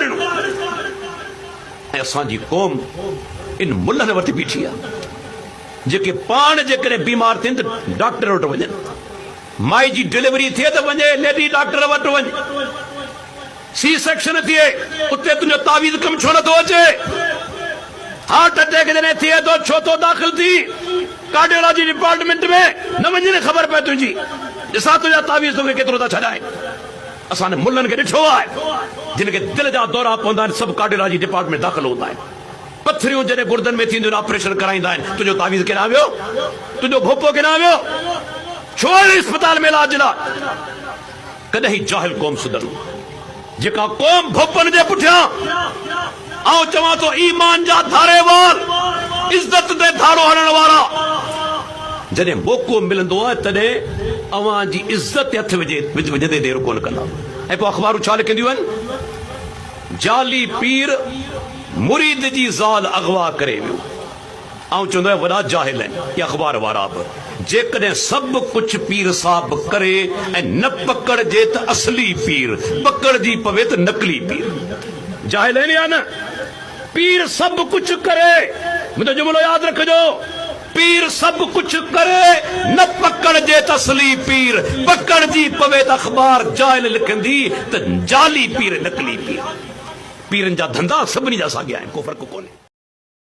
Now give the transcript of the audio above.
اقبال ۽ اسان جي قوم ان ملهن وٽ بيٺي آهي جيڪي پاڻ جيڪڏهن بيمار ٿين ته ڊاڪٽر وٽ وڃن مائي جي ڊليوري ٿئي ته وڃي ليڊي ڊاڪٽر وٽ وڃ سي سيڪشن ٿئي اتي تنهنجو تعويذ ڪم ڇو نٿو اچي هارٽ اٽيڪ جڏهن ٿئي ٿو ڇو ٿو داخل ٿي ڪارڊيولاجي ڊپارٽمنٽ ۾ نه وڃي نه خبر پئي تنهنجي ڏسان تنهنجا تعويذ توکي ڪيترو ٿا ڇڏائين اسان انهن ملن کي ڏٺو آهي، جن کي دل جا دورا پوندا آهن، سب ڪارڊيالاجي ڊپارٽمينٽ ۾ داخل هوندا آهن. پٿريون جڏهن گردن ۾ ٿينديون آهن، آپريشن ڪرائيندا آهن، تنهنجو تعويذ ڪيڏانهن ويو؟ تنهنجو ڀوپو ڪيڏانهن ويو؟ ڇو آيو اسپتال ۾ علاج لاء؟ ڪڏهن هي جاهل قوم سڌرندي، جيڪا قوم ڀوپن جي پٺيان. آئون چوان ٿو ايمان جا ڌاري وار، عزت تي ڌارو هڻڻ وارا! جڏهن موقعو ملندو تڏهن اوهان جي عزت تي هٿ وجهندي دير ڪونه ڪندا ۽ پوء اخبارون ڇا لکنديون آهن، جعلي پير مريد جي زال اغوا ڪري ويو. آئون چوندو آهيان وڏا جاهل آهن اهي اخبار وارا به جيڪڏهن سڀ ڪجهه پير صاحب ڪري ۽ نه پڪڙجي ته اصلي پير پڪڙجي پوي ته نقلي پير جاهل آهن يا نه پير سڀ ڪجهه ڪري منهنجو جملو ياد رکجو پير سڀ ڪجهه ڪري نه پڪڙجي ته اصلي پير پڪڙجي پوي ته اخبار جاهل لکندي ته جعلي پير نقلي پير پيرن جا ڌندا سڀني جا ساڳيا آهن ڪو فرق ڪونهي.